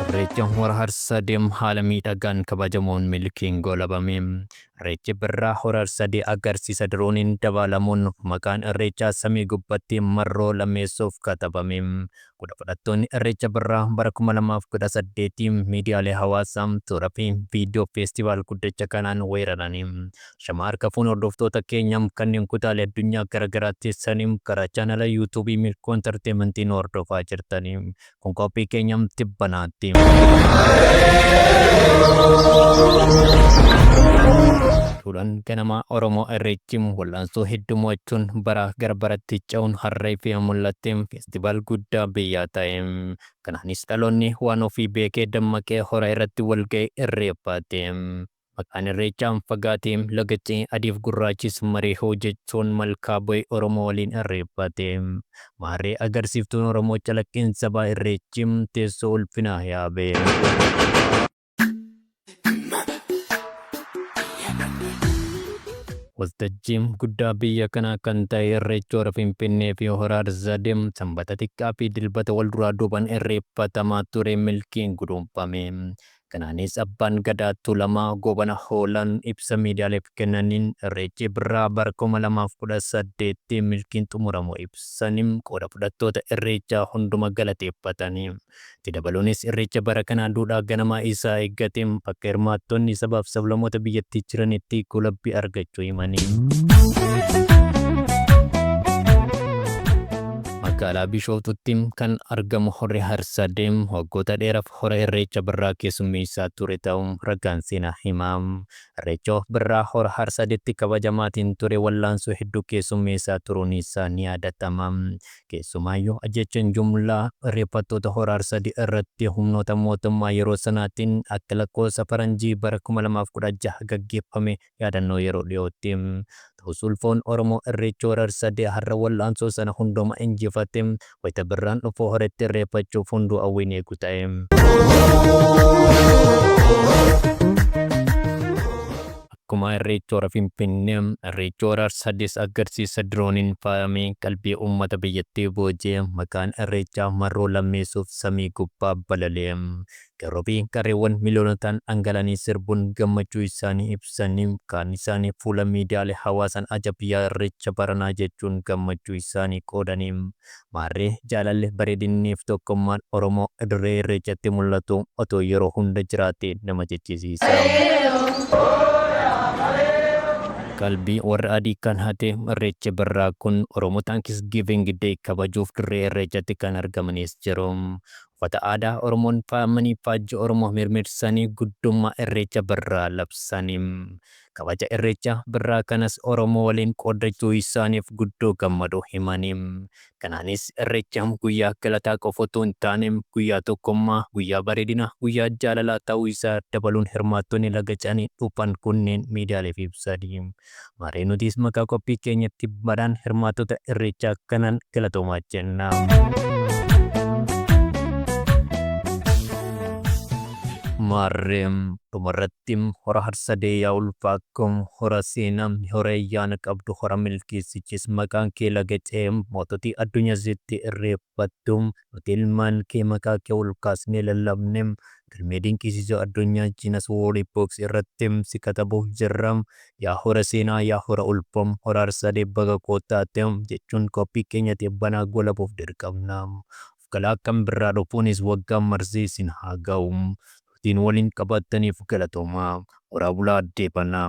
Irreecha Hora Harsadee haala miidhagaan kabajamuun milkiin goolabame. Irreechi Birraa Hora Harsadee agarsiisa dirooniin dabaalamuun maqaan Irreechaa samii gubbatti marroo lammeessoof katabame. Qooda fudhattoonni Irreecha Birraa bara 2018 miidiyaalee hawaasaa, suuraa fi viidiyoo feestivaal guddicha kanaan weeraranii shama harka fuune hordoftoota keenya kanneen kutaalee addunyaa garaagaraa teessanii karaa chaanala yuutuubii Milkoo Intarteementii nu hordofaa jirtanii kun qophii keenya tibbanaatti. Duudhaan ganamaa Oromoo Irreechi wal'aansoo hedduu mo'achuun baraa gara baratti ce'uun harree fi mul'attee Festival guddaa biyyaa ta'e. Kanaanis dhaloonni waan ofii beekee dammaqee hora irratti wal ga'e irreeffate. Maqaan irreechaan fagaate laga ce'e adiif gurraachis maree hoo jechuun malkaa bu'e Oromoo waliin irreeffate. Maarree agarsiiftuun Oromoo calaqqiin sabaa irreechi teessoo ulfinaa yaabe. Waltajjii guddaa biyya kanaa kan ta'e Irreechi Hora Finfinnee fi Hora Harsadee Sanbata xiqqaa fi Dilbata wal duraa duubaan irreeffatamaa ture milkiin guduunfame. Kanaanis Abbaan Gadaa Tuulamaa Goobana Hoolaan ibsa miidiyaaleef kennaniin Irreechi Birraa bara 2018 milkiin xumuramuu ibsanii qooda fudhattoota Irreechaa hunduma galateeffatanii. Itti dabaluunis Irreecha bara kanaa duudhaa ganamaa isaa eeggateen bakka hirmaattonni sabaaf sablamoota biyyattii jiranitti golabbi argachuu himanii. Magaalaa Bishooftuutti kan argamu Horri Harsadee waggoota dheeraaf hora Irreecha Birraa keessummeessaa ture ta'uu ragaan seenaa hima. Irreecha of Birraa Hora Harsadeetti kabajamaatiin ture wallaansoo hedduu keessummeessaa turuun isaa ni yaadatama. Keessumaayyu ajjeechaan jumlaa reeffattoota Hora Arsadii irratti humnoota mootummaa yeroo sanaatiin akka lakkoofsa faranjii bara 2016 gaggeeffame yaadannoo yeroo dhiyootti ta'us ulfoon Oromoo Irreechi Hora Arsadee har'a wal'aansoo sana hundumaa injifate wayita birraan dhufu hora itti irreeffachuuf hunduu hawwiin eegu ta'e. Akkuma Irreecha Hora Finfinnee, Irreechi Hora Harsadees agarsiisa dirooniin faayamee qalbii uummata biyyattii boojee maqaan Irreechaa marroo lammeessuuf samii gubbaa balale. Qeerroo fi qarreewwan miliyoonotaan dhangala'anii sirbuun gammachuu isaanii ibsanii, kaan isaanii fuula miidiyaalee hawaasaan ajab yaa Irreecha baranaa jechuun gammachuu isaanii qoodanii, Maarree jaalalli, bareedinnii fi tokkummaan Oromoo Dirree Irreechatti mul'atu otoo yeroo hunda jiraatee nama jechisiisa. Qalbii warra adii kan hate Irreechi Birraa kun Oromoo Thanksgiving Day kabajuuf Dirree Irreechatti kan argamanis jiru. Uffata aadaa Oromoon faayamanii faajjii Oromoo mirmirsanii guddummaa Irreecha Birraa labsani. kabaja Irreecha Birraa kanas Oromoo waliin qooddachuu isaaniif guddoo gammaduu himanii, kanaanis Irreecha guyyaa galataa qofa utuu hin taane guyyaa tokkummaa, guyyaa bareedinaa, guyyaa jaalalaa ta'uu isaa dabaluun hirmaattonni laga Canii dhufan kunneen miidiyaaleef ibsanii, maarree nutis maqaa qophii keenya tibbaadhaan hirmaattota Irreechaa kanaan galatoomaa jenna. Maarree dhumarratti. Dim hora harsadee yaa ulfaa ko hora seena hora ayyaana qabdu hora milkii sichis maqaan kee laga cehe moototi addunya sitti irreeffattu nuti ilmaan kee maqaa kee ol kaasnee lallabne galmee dinqiisiisoo addunyaa Guinness World Books irratti si katabuuf jirra yaa hora seenaa yaa hora ulfoo hora harsadee baga koo taate jechuun qophii keenya tibbanaa goolabuuf dirqamna galaa kan birraa dhufuunis waggaan marsee isin haa ga'u turtiin waliin qabaattaniif galatoomaa horaa bulaa addee fanaa.